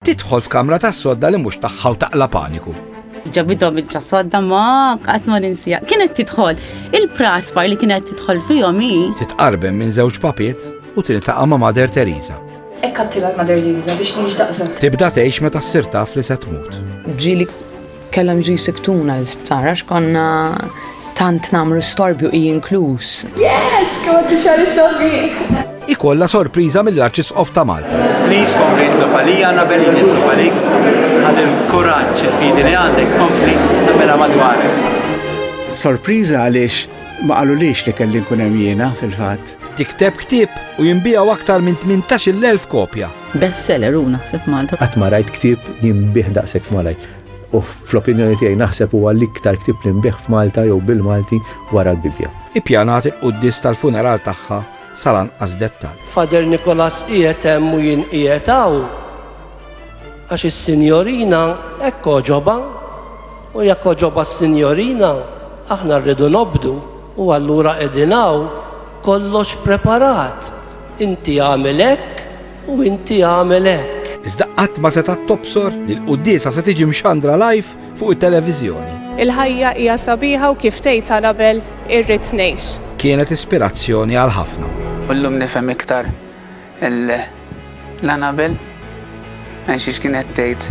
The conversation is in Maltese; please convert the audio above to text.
Tidħol f'kamra ta' sodda li mhux tagħha u taqla paniku. Ġabidhom il-ċasodda ma qatt ma ninsija. Kienet tidħol il-praspar li kienet tidħol fihom hi. Titqarben minn żewġ papiet u tiltaqa' ma' Mader Teresa. Ekk għattila l-Mader Teresa biex nix daqsek. Tibda tgħix meta ssir taf li se tmut. Ġieli Kellhom jiġu jsiktuna l-isptar għax konna tant nagħmlu storbju hi inkluż. Yes, kont tixgħar is-sabiħ! ikolla sorpriża mill-Arċisqof ta' Malta. Please kompli nitlob għalija nabel nitlob għalik għal il-kuraġġ il-fidi li għandek kompli nabela madwarek. Sorpriża għaliex ma qalulix li kelli nkun hemm jiena fil-fatt. Tikteb ktieb u jinbijaw aktar minn 18,000 kopja. Bestseller u naħseb Malta. Qatt ma rajt ktieb jinbih daqshekk f'Malaj. U fl-opinjoni tiegħi naħseb huwa l-iktar ktieb li nbigħ f'Malta jew bil-Malti wara l-Bibbja. Ippjanat il-quddies tal-funeral tagħha sal-anqas dettall. Father Nicholas qiegħed hemm u jien qiegħed hawn għax is-sinjorina hekk għoġobha u jekk għoġobha s-sinjorina aħna rridu nobdu u allura qegħdin hawn kollox preparat. Inti għamel hekk U inti agħmel hekk. Iżda qatt ma setgħet tobsor li l-quddiesa se tiġi mxandra live fuq it-televiżjoni. Il-ħajja hija sabiħa u kif tgħid Anabel, irrid ngħix. Kienet ispirazzjoni għal ħafna. U llum nifhem iktar lil Anabel għax kienet tgħid.